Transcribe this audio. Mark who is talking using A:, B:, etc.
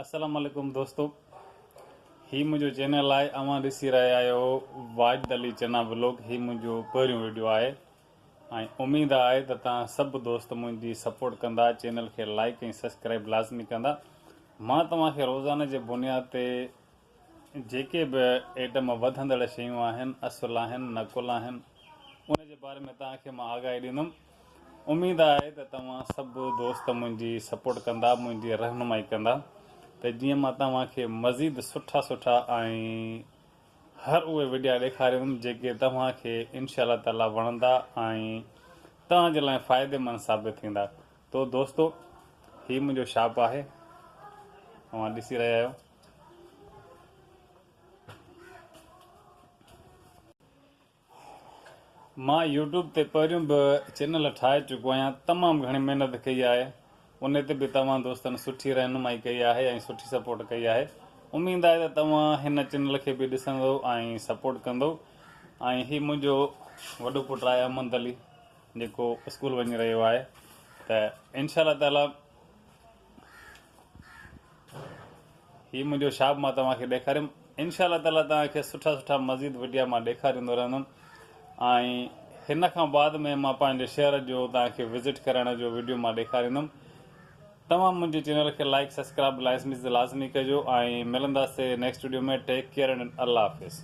A: السلام عليڪم دوستو هي منهنجو چينل آهي اوهان ڏسي رهيا آهيو واجد علي چنا ولوگ هي منهنجو پهريون ويڊيو آهي ۽ اميد آهي ته توهان سڀ دوست منهنجي سپورٽ ڪندا چينل کي لائڪ ۽ سبسڪرائب لازمي ڪندا مان توهان کي روزانه جي بنياد تي جيڪي به ايٽم وڌندڙ شيون آهن اصل آهن نقل آهن ان جي باري ۾ توهان کي مان آگاهي ڏيندم اميد آهي ته توهان سڀ دوست منهنجي سپورٽ ڪندا منهنجي رهنمائي ڪندا ته جيئن مان توهان کي مزيد سٺا سٺا ۽ هر اهي وڊيا ڏيکاريندم جيڪي توهان کي انشاء الله تعالي وڻندا ۽ توهان جي لاء فائدي مند ثابت ٿيندا تو دوستو هي منهنجو شاپ آهي اوهان ڏسي رهيا آهيو مان يوٽيوب تي پهريون به چينل ٺاهي چڪو آهيان تمام گهڻي محنت ڪئي آهي ان تي به توهان دوستن سٺي رهنمائي ڪئي آهي ۽ سٺي سپورٽ ڪئي آهي اميد آهي ته توهان هن چينل کي به ڏسندو ۽ سپورٽ ڪندو ۽ هي منهنجو وڏو پٽ آهي احمد علي جيڪو اسڪول وڃي رهيو آهي ته انشاء الله تعالي هي منهنجو شاپ مان توهان کي ڏيکاريم انشاء الله تعالي توهان کي سٺا سٺا مزيد وڊيا مان ڏيکاريندو رهندم ۽ هن کان بعد ۾ مان پنهنجي شهر جو توهان کي وزٽ ڪرائڻ جو وڊيو مان ڏيکاريندم توهان منهنجي چينل کي لائڪ سبسڪرائب لائسميز لازمي ڪجو ۽ ملنداسي نيڪسٽ وڊيو ۾ ٽيڪ ڪيئر الله حافظ